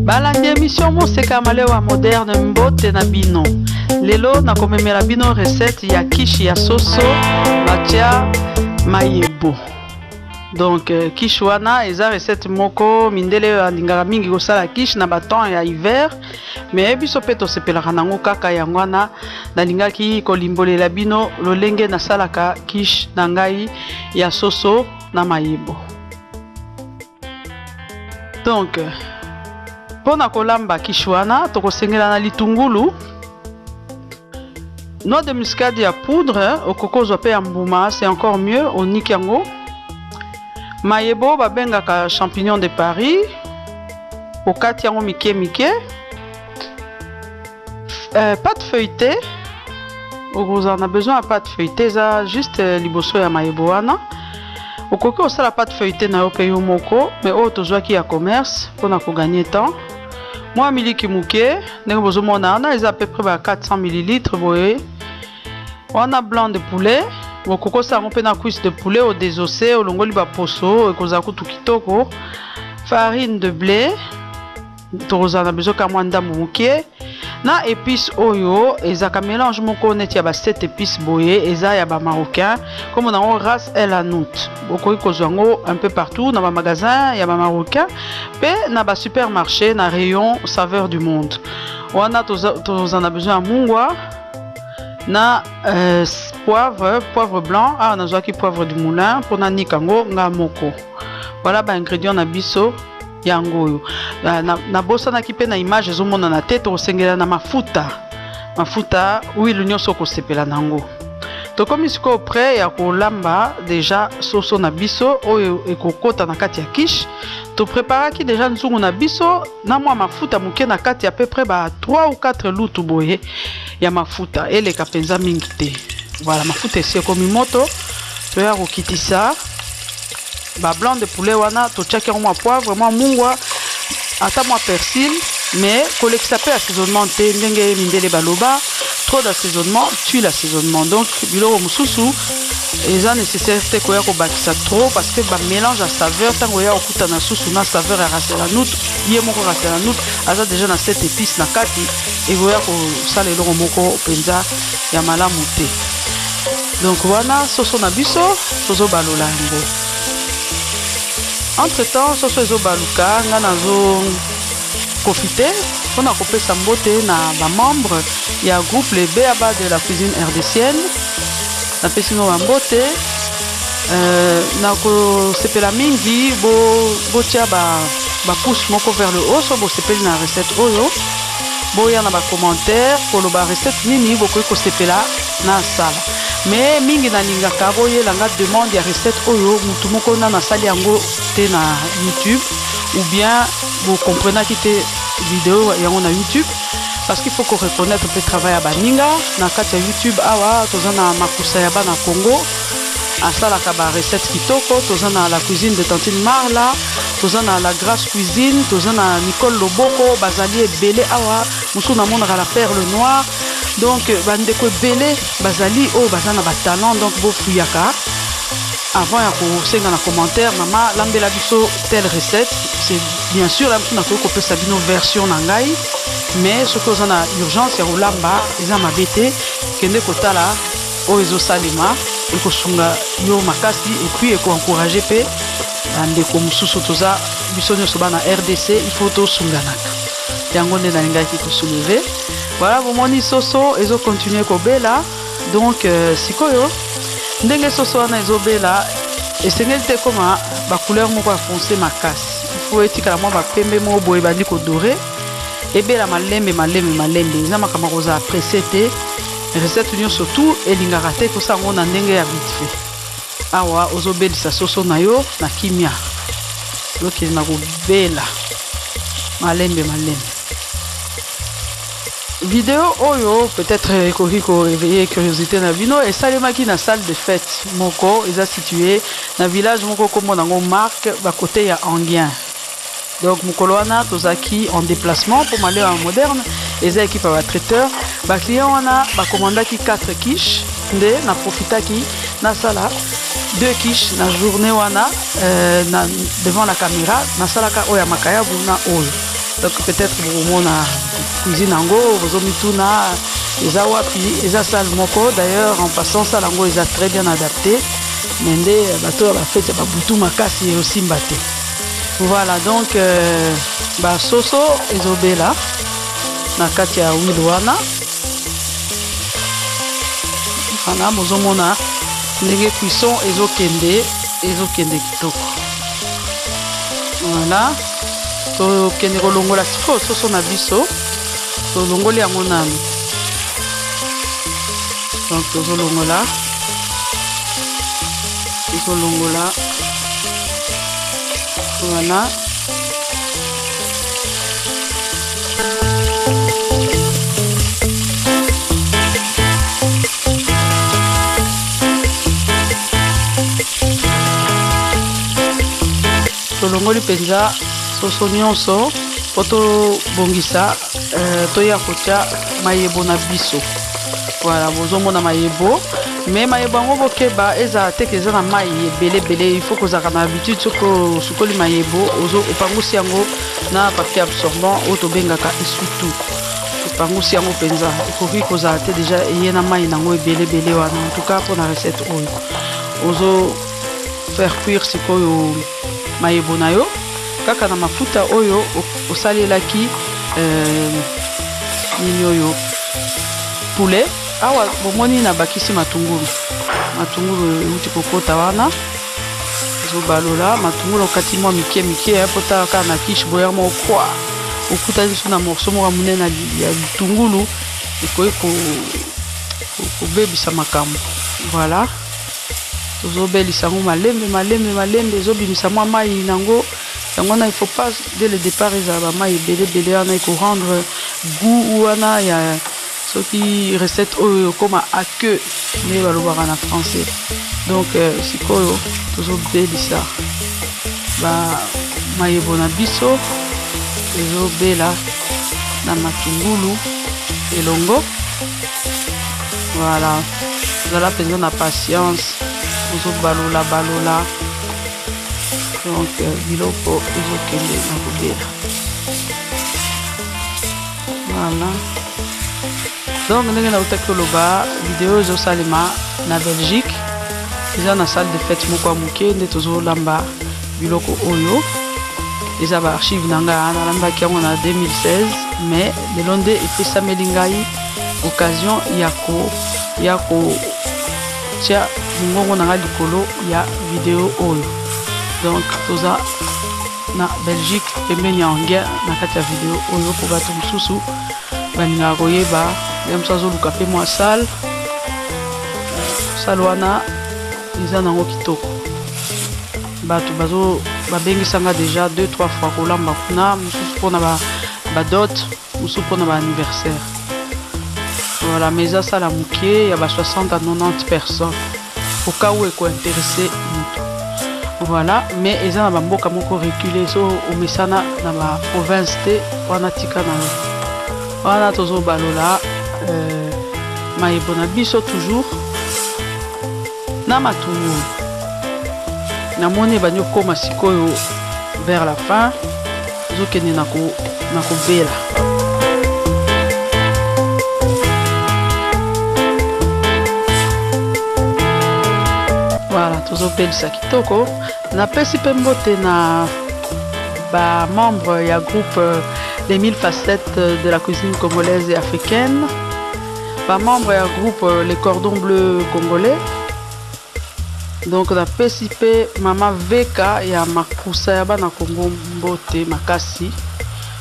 balandi emission moseka malewa moderne mbote na bino lelo nakomemela bino recette ya kishi ya soso batya mayebo donc euh, kishi wana eza recette moko mindele oyo alingaka mingi kosala kishi na batemps ya hiver mais biso mpe tosepelaka nango kaka yango wana nalingaki kolimbolela bino lolenge nasalaka kish na ngai ya soso na mayebo donc mpo na kolamba kish wana tokosengelana litungulu Noix de muscade ya poudre okoki kozwa mpe ya mbuma, c'est encore mieux, oniki yango. Mayebo babengaka champignon de Paris, okati yango mike mike. Euh, pâte feuilletée okozala na besoin ya pâte feuilletée eza juste euh, liboso ya mayebo wana okoki kosala pâte feuilletée na yo mpe yo moko mais oyo tozwaki ya commerce mpona koganye temps mwa miliki moke ndenge bozomona wana eza peu près ba 400 millilitre boye wana blanc de poulet bokokosa yango mpe na cuisse de poulet odesose olongoli baposo ekozala kutu kitoko farine de blé tokozala na besoin ka mwa ndambo moke na épice oyo ezalaka mélange moko neti ya ba 7 épice boye eza ya ba marocain kombo na yango race el anout bokoki kozwa yango un peu partout na bamagasin ya bamarocain mpe na ba supermarché na rayon saveur du monde wana toza, toza na besoin ya mungwa na euh, poivre poivre blanc awa nazwaki poivre du moulin mpo nanika yango nga moko voilà ba ingrédient na biso yango oyo nabosanaki na, na mpe na image ezomonana te tokosengela na mafuta mafuta huile nyonso okosepela na yango Tokomi sikoyo près ya kolamba deja soso na biso oyo ekokota na kati ya quiche. To preparaki deja nzungu na biso na mwa mafuta moke na kati ya peu près ba 3 ou 4 lutu boye ya mafuta eleka mpenza mingi te. Voilà, mafuta esi ekomi moto, toya kokitisa ba blanc de poulet wana totiaki yango mwa poivre mwa mungwa ata mwa persil mais kolekisa mpe assaisonnement te ndenge mindele baloba trop d'assaisonnement tue l'assaisonnement donc biloko mosusu eza nécessaire te koya kobakisa trop parce que bamélange ya saveur ntango oya kokutana susu na saveur ya raselanut ye moko raselanut aza déjà na set épice na kati ekoya kosala eloko moko mpenza ya malamu te donc wana soso na biso tozobalola yango entre temps soso ezobaluka ngai nazo profite mpo na kopesa mbote na bamembre ya groupe le beaba de la cuisine rdcienne napesi ngo bambote euh, nakosepela mingi botya bo ba, ba pouce moko vers le haut so bosepeli na recette oyo boya na ba commentaire koloba recette nini bokoki kosepela na sala mais mingi nalingaka boyela nga demande ya recette oyo mutu moko na nasali yango te na youtube ou bien bocomprenaki te video yango na youtube parce qu'il faut ko reconnaître mpe travail ya baninga na kati ya youtube awa toza na makusa ya bana congo asalaka ba recette kitoko toza na la cuisine de tantine marla toza na la grace cuisine toza na nicole loboko bazali ebele awa mosusu namonaka la perle noire donc bandeko ebele bazali oyo baza na batalent donc bofuyaka avant ya kosenga na commentaire mama lambela biso telle recette c'est bien sûr la biso nakoki kopesa bino version na ngai mais soki oza na urgence ya kolamba eza mabe te kende kotala oyo ezosalema ekosunga yo makasi epuis ekoencourage mpe bandeko mosusu toza biso nyonso bana rdc il faut tosunganaka yango nde nalingaki kosouleve voilà bomoni soso ezokontinue kobela donc euh, sikoyo ndenge soso wana ezobela esengeli te ekoma bacouleur moko ya fonce makasi il faut etikala mwa bapembe moko boye ebandi kodore ebela malembe malembe malembe eza makambo akozala presse te Recette nyonso tu elingaka te kosa yango na ndenge ya vite fait. Awa ozobelisa soso na yo na kimia, lokele na kobela malembe malembe. Video oyo peut-être ekoki ko réveiller curiosité na bino, esalemaki na salle de fête moko eza situé na village moko kombo nango Marc ba côté ya Anguien. Donc mokolo wana tozalaki en déplacement mpo malema moderne eza ekipe ya batraiteur baclient wana bakomandaki 4 quiche nde na profitaki nasala deux quiche na journée wana euh, na, devant la caméra nasalaka oyo ya makayabu na oyo donc peut-être bokomona cuisine yango bozomituna eza wapi eza sale moko d'ailleurs en passant sale yango eza très bien adapté me nde bato ya bafeti ya babutu makasi eosimba te Voilà donc euh, ba soso ezobela na kati ya huile wana wana bozomona ndenge cuisson ezokende ezokende kitoko voilà tokende kolongola sikoyo soso na biso tolongoli yango nanu donc tozolongola ekolongola wana tolongoli mpenza soso nyonso mpo tobongisa Euh, toya kotya mayebo na biso voilà bozomona mayebo mais mayebo yango bokeba ezala te ke eza na mai ebele ebele il faut kozalaka na habitude soki osukoli mayebo opangusi yango na papier absorbant oyo tobengaka esutu opangusi yango mpenza ekoki kozala te deja eye na mai nango ebele ebele wana en tout cas mpo na recette oyo ozo faire cuire sikoyo Mayebo na yo kaka na mafuta oyo osalelaki euh, nini oyo poulet awa bomoni nabakisi matungulu matungulu euti kokota wana ezobalola matungulu okati mwa mike mike eh, po tala kaka na kiche boya mwa okwa okutani biso na morso moko monene ya litungulu ekoki kobebisa makambo voilà Tozobelisa yango malembe malembe malembe, ezobimisa mwa mai na yango. Yango wana il faut pas dès le départ ezala ba mai ebele ebele wana eko rendre goût wana ya soki recette oyo ekoma à queue nde balobaka na français. Donc euh, sikoyo tozobelisa ba mayebo na biso ezobela na matungulu elongo voilà zala mpenza na patience ozobalula balula donc euh, biloko ezokende na kobela voilà donc ndenge nautaki koloba video ezosalema na belgique eza na salle de fete moko ya moke nde tozolamba biloko oyo eza baarchive na ngai nalambaki yango na 2016 mais lelo nde epesameli ngai occasion ya ko ya ko tia mongongo na nga likolo ya video oyo donc toza na belgique pembeni ya anglais na kati ya video oyo mpo bato mosusu balingaka koyeba ye mosusu azoluka mpe mwa sale sale wana eza nango kitoko bato babengisanga deja 2 3 fois kolamba kuna mosusu mpona badote ba Mususu pona ba anniversaire. Voilà, mais eza sala mukie ya ba 60 à 90 personnes. Au cas où eko interesser mutu. Voilà, mais eza na ba mboka moko reculer so omesana na ba province te wana tika na yo. Wana tozo balola euh, mayebo na biso toujours Na matungulu. Na moni ebandi kokoma sikoyo vers la fin ezokende na kobela. tozobelisa kitoko napesi mpe mbote na bamembre ya groupe les 1000 facettes de la cuisine congolaise et africaine Ba membres ya groupe euh, Les Cordons Bleus Congolais. Donc na pesi pe mama Veka ya makusa ya bana Congo mbote makasi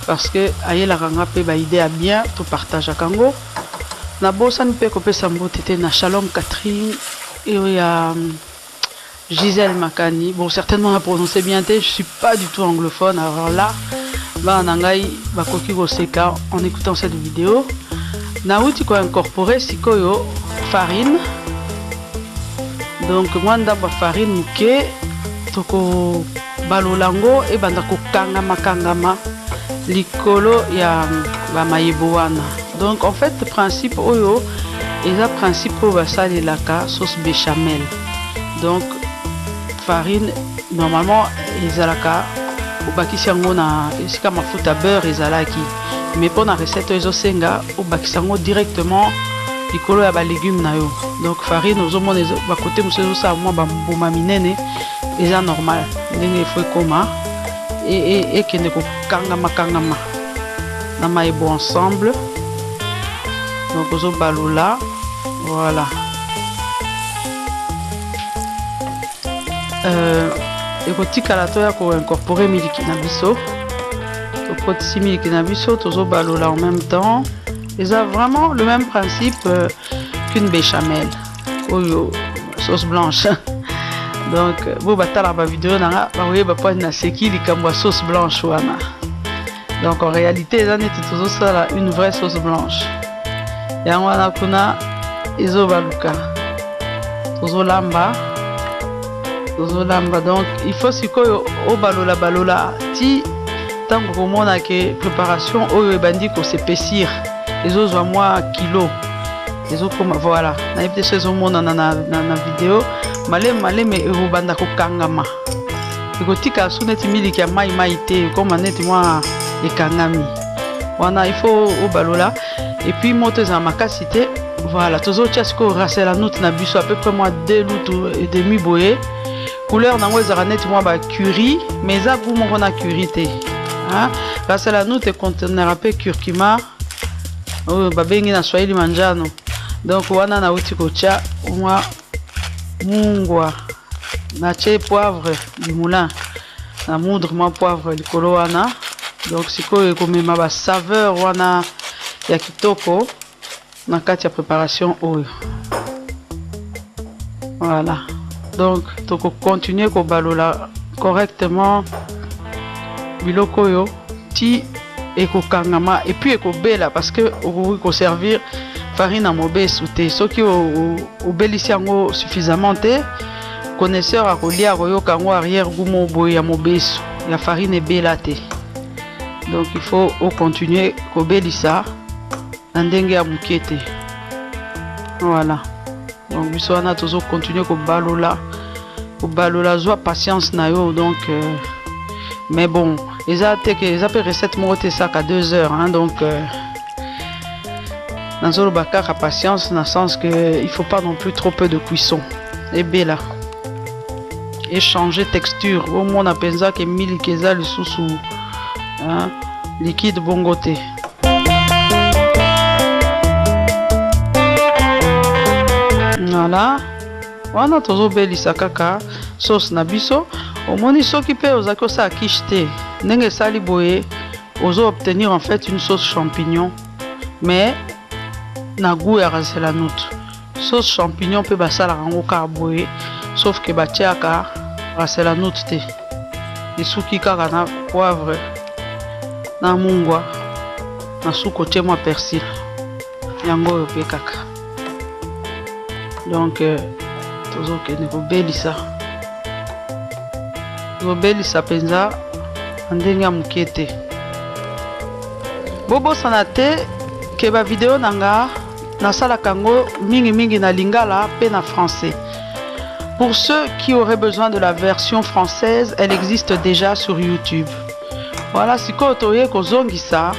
parce que ayelaka nga pe ba idée ya bien to partageaka yango. Nabosani pe kopesa mbote te na Shalom Catherine eyo ya Gisèle Makani, bon certainement na prononcer bien te, je suis pas du tout anglophone, alors là, bana na ngai bakoki koseka en écoutant cette vidéo. Nauti ko incorporer sikoyo farine, donc mwa ndambo ya farine moke toko Balolango ebanda kokangama kangama likolo ya ba mayebo wana donc en fait principe oyo eza principe oyo basalelaka sauce bechamel donc farine normalement ezalaka obakisi yango na esika mafuta beurre ezalaki mais mpo na recette oyo ezosenga obakisa yango directement likolo ya balegume na yo donc farine ozomona bakote mosusu ezosala mwa bambuma minene Eza normal ndenge il faut ekoma ekende kokangama kangama na mayi bo ensemble donc ozobalula voilà euh, ekotikala toya koincorpore miliki na biso tokotisi miliki na biso tozobalola en même temps eza vraiment le même principe euh, qu'une béchamel oyo sauce blanche donc bo batala ba video na nga bakoyeba mpani naseki likambo ya sauce blanche wana donc en réalité eza neti tozosala une vraie sauce blanche yango wana kuna ezobaluka tozolamba tozolamba donc il faut sikoyo obalola balola ti ntango komona ke préparation oyo ebandi kosepesir ezozwa mwa kilo ezokoma voilà nayebi te so ezomonana na, na, na video maleme maleme ekobanda kokangama ekotika su neti miliki ya mai mai te ekoma neti mwa ekangami wana il faut obalola epuis moto ezala makasi te voilà tozotya sikoyo rasela note na biso à peu près mwa deux lutu et demi boye couleur nango ezalaka neti mwa bacurie mais eza gout moko na curie te rasela note econtenera mpe curcuma oyo babengi na swahili manjano donc wana nauti kotya mwa mungwa natye poivre du moulin na moudre mwa poivre likolo wana donc sikoyo ekomema basaveur wana ya kitoko na kati ya préparation oyo Voilà. Donc, toko continuer ko balola correctement biloko oyo ti ekokangama et puis ekobela parce que okoki ko servir farine ya mobesu te soki obelisi yango suffisamment te connaisseur akolia akoyoka yango arrière gout moko boye ya mobesu ya farine ebela te donc il faut ocontinue kobelisa na ndenge ya moke te Voilà. Donc biso wana tozo continuer kobalola kobalola zwa patience na yo donc euh, mais bon eza te ke eza mpe recette moko te esaka 2 heures hein, donc euh, nazoloba kaka patience na sens que il faut pas non plus trop peu de cuisson ebela échanger texture omona mpenza ke miliki eza lisusu hein, liquide bongo te Nala wana tozobelisa kaka sauce na biso omoni soki mpe ozalaki osala quiche te ndenge esali boye ozo obtenir en fait une sauce champignon mais na goût ya raselanout Sauce champignon mpe basalaka yango kaka boye sauf que batiaka raselanut te esuki kaka na poivre na mungwa na suka otie mwa persil yango oyo mpe kaka donc euh, tozokende kobelisa tozobelisa mpenza na ndenge ya moke te bobosana te ke bavideo na nga Nasalaka yango mingi mingi na lingala pe na français. Pour ceux qui auraient besoin de la version française, elle existe déjà sur YouTube. Voilà sikoyo toye kozongisa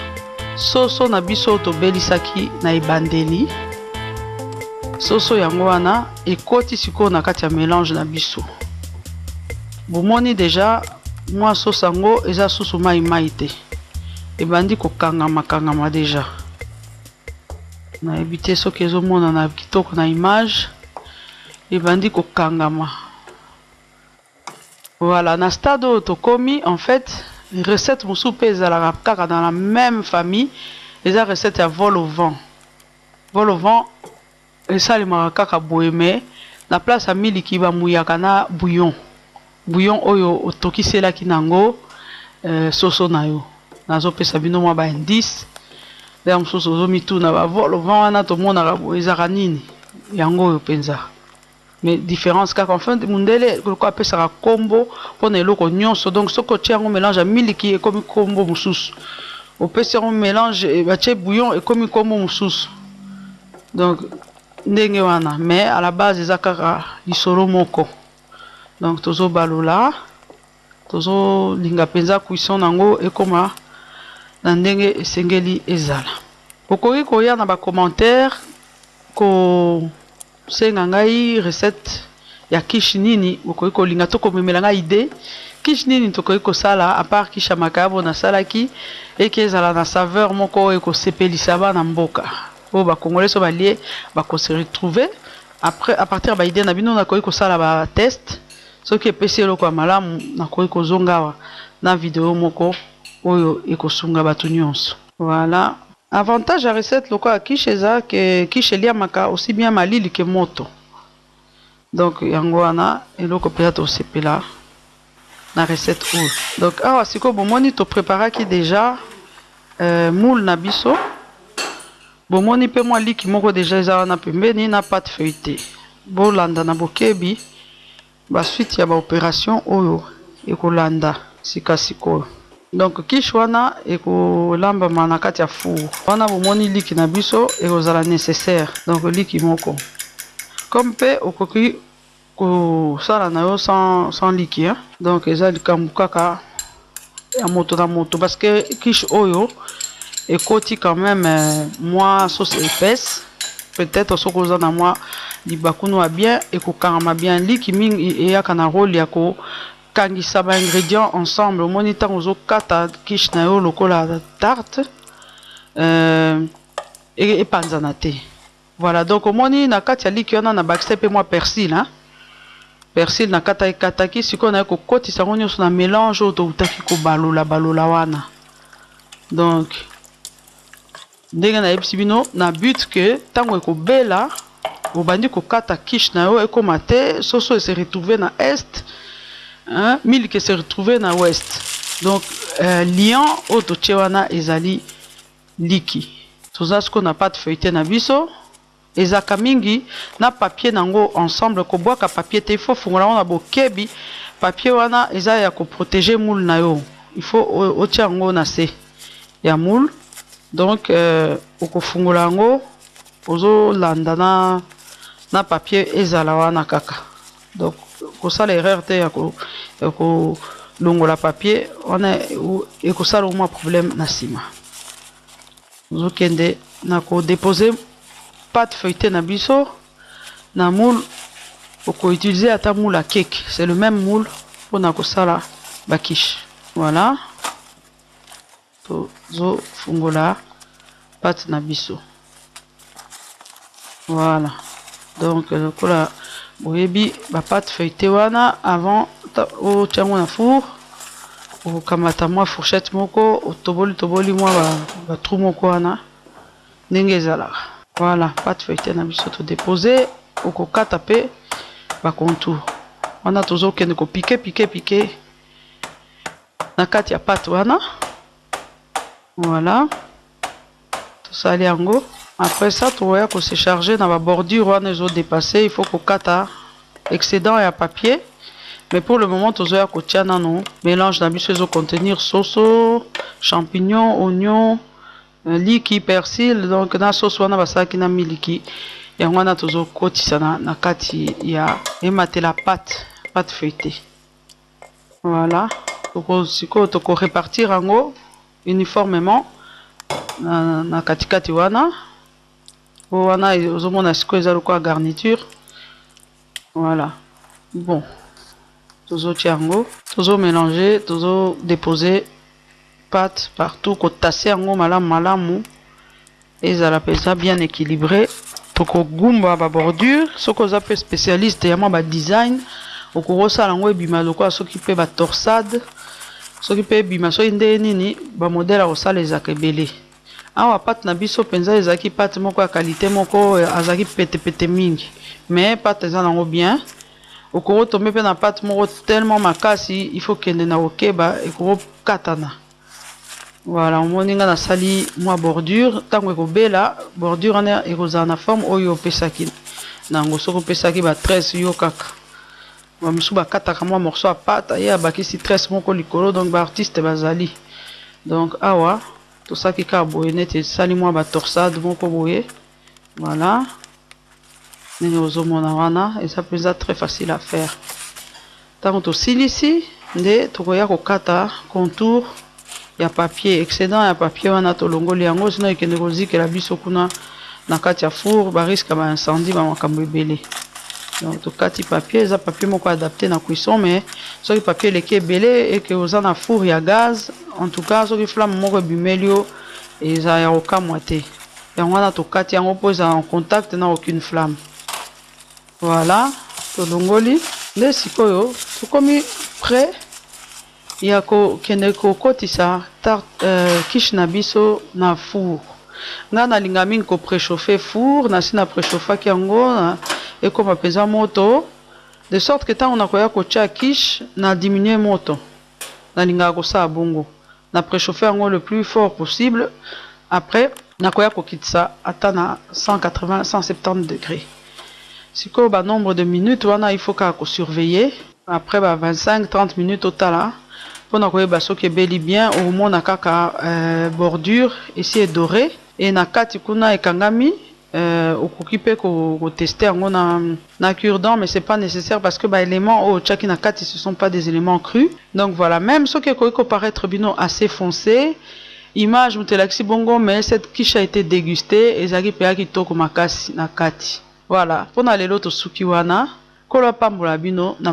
soso na biso tobelisaki na ebandeli. Soso yango wana ekoti sikoyo na kati ya melange na biso. Bomoni deja mwa soso yango eza susu mai mai te. Ebandi kokangama kangama deja. Nayebi te soki ezo monana kitoko na image. Ebandi ko kangama. Voilà, na stade oyo tokomi en fait recette mosusu pe ezalaka kaka dans la meme famille eza recette ya vol au vent. Vol au vent. Esalemaka kaka boye mais na place ya miliki ba muyaka na bouillon. Bouillon oyo otokiselaki nango soso nayo. Nazo pesa bino mwa ba indices. Ya mosusu ozo mituna ba vol au vent wana tomonaka boye ezalaka nini? Yango oyo penza. Mais difference kaka enfin mundele lokola apesaka kombo pona eloko nionso donc soki otie yango melange ya miliki ekomi kombo mususu opesi yango melange batie bouillon ekomi kombo mususu donc ndenge wana mais à la base eza kaka lisolo moko donc tozo balola tozo linga penza cuisson nango ekoma na ndenge esengeli ezala okoki koya na ba commentaire ko Senga ngai recette ya quiche nini bokoki kolinga to komemela ngai idee quiche nini tokoki kosala a part quiche ya makayabo nasalaki eke ezala na saveur moko oyo ekosepelisa bana mboka oyo ba congolais so balie bako se retrouver après a partir ya ba idee na bino nakoki kosala ba test soki epesi eloko ya malamu nakoki kozonga awa na video moko oyo ekosunga bato nyonso. Voilà avantage ya recette lokola quiche eza que quiche eliamaka aussi bien malili que moto donc yango wana eloko mpenza tosepela na recette oyo donc awa sikoyo bomoni to preparaki deja euh, moule na biso bomoni mpe mwa liki moko deja eza wana pembeni na pate feuilletee bolanda na bokebi Ba suite ya ba operation oyo ekolanda sika sikoyo. Donc quiche wana ekolambama na kati ya four. Wana bomoni liki na biso ekozala necessaire. Donc liki moko. Comme mpe okoki kosala na yo sans liki hein. Donc eza likambo kaka. ya moto na moto parce que quiche oyo ekoti quand même euh, mwa sauce épaisse peut-être soki oza na mwa libakunu ya bien ekokangama bien liki mingi eyaka na role ya kokangisa ba ingrédients ensemble omoni ntango ozokata quiche na yo lokola tarte euh, epanzana te Voilà donc omoni na kati ya liki wana na bakisaki pe mua persil hein. Persil na kataki kataki sikoyo naye ko kotisa yango nioso na melange oyo towutaki ko balola balola wana. Donc ndenge na yebisi bino na but que tango eko bela obandi ko kata quiche na yo ekoma te soso e se retrouver na est hein miliki e se retrouver na ouest. Donc euh, liant oyo totie wana ezali Liki. Toza sikoyo na pate feuilletee na biso. Ezalaka mingi na papier na yango ensemble. Kobwaka papier te. Il faut ofungola yango na bokebi. Papier wana eza ya ko proteger moule na yo. Il faut otia yango na se ya moule. Donc, okofungola yango ozo landa na papier ezala wana kaka. Donc kosala erreur te ya ko ya ko longola papier wana ekosala omwa problème na nsima. Ozokende na ko deposer pâte feuilletée na biso na moule oko utiliser ata moule à cake, c'est le même moule pona kosala ba quiche. Voilà. Tozo fungola pate na biso. Voilà. Donc lokola boyebi ba pate feuilletee wana avant otia yango na four okamata mwa fourchette moko otoboli toboli mwa ba, ba trou moko wana ndenge ezalaka. Voilà, pate feuilletee na biso to depose, okokata pe ba contour. Wana tozo kende ko piquer piquer piquer na kati ya pate wana voilà tosali yango après ça tokoya ko se charger na ba bordure wana ezo dépasser il faut kokata excédent ya papier mais pour le moment tozoya kotia nano mélange na biso ezo contenir soso champignon oignon euh, liki persil donc na soso wana basalaki na miliki yango wana tozokotisa na, na kati ya ematela pate pate feuilletée Voilà toko sikoyo toko repartir yango uniformement na, na katikati wana po wana ozomona sikoyo eza lokola garniture voilà bon tozotia yango tozo mélanger tozo déposer pâte partout kotase yango malamu malamu Ezala penza bien equilibre. Toko gumba ba bordures. Soki oza pe specialiste ya mwa ba design, okoki osala yango ebima lokola soki pe ba torsades. Soki pe ebima soki ndenge nini, ba modèles ya kosala ezalaka ebele. Awa pate na biso penza ezalaki pate moko ya qualite moko, azalaki pete pete mingi. Mais pate eza na yango bien. Okoki o tomber pe na pate moko tellement makasi, il faut okende na kokeba, ekoki okatana. Voilà omoni nga nasali mwa bordure ntango ekobela bordure wana ekozala na forme oyo opesaki nango soki opesaki ba 13 yo kaka bamosusu bakataka mwa morceau ya pate ye abakisi 13 moko likolo donc ba artiste bazali donc awa tosaki kaka boye neti esali mwa ba torsade moko boye Voilà ndenge bozo mona wana eza mpenza très facile à faire. Tango tosilisi nde tokoya kokata contour ya papier excedent ya papier wana tolongoli yango sinon ekende kozikela biso kuna na kati ya four ba risque ya ba incendie ba makambo ebele. Donc tokati papier eza papier moko adapte na cuisson mais soki papier eleki ebele et que oza na four ya gaz en tout cas soki flamme moko ebimeli yo eza ya kokamwa te. yango wana tokati yango mpo ezala en contact na aucune flamme voilà tolongoli nde sikoyo tokomi près ya kokende kokotisa tarte euh, quiche na biso na four nga nalinga mingi ko préchauffe four nasi na préchauffaki yango ekoma mpenza moto de sorte que ntango nakoya kotya quiche na diminue moto nalingaka kosala bongo Na prechauffer yango le plus fort possible après nakoya kokitisa ata na 180, 170 degres. Sikoyo ba nombre de minutes wana il faut kaka ko surveiller. Après ba 25, 30 minutes otala pona koyeba soki ebeli bien, okomona kaka bordure esi e dorer et na kati kuna ekangami. Euh okoki pe ko ko tester yango na na cure dent mais c'est pas necessaire parce que ba elements oyo otiaki na kati ce sont pas des elements crus donc voilà meme soki ekoki ko paraitre bino assez fonce image moto elakisi bongo mais cette quiche a ete deguste ezalaki mpenza kitoko makasi na kati voilà mpo na lelo tosuki wana nkolo apambola bino na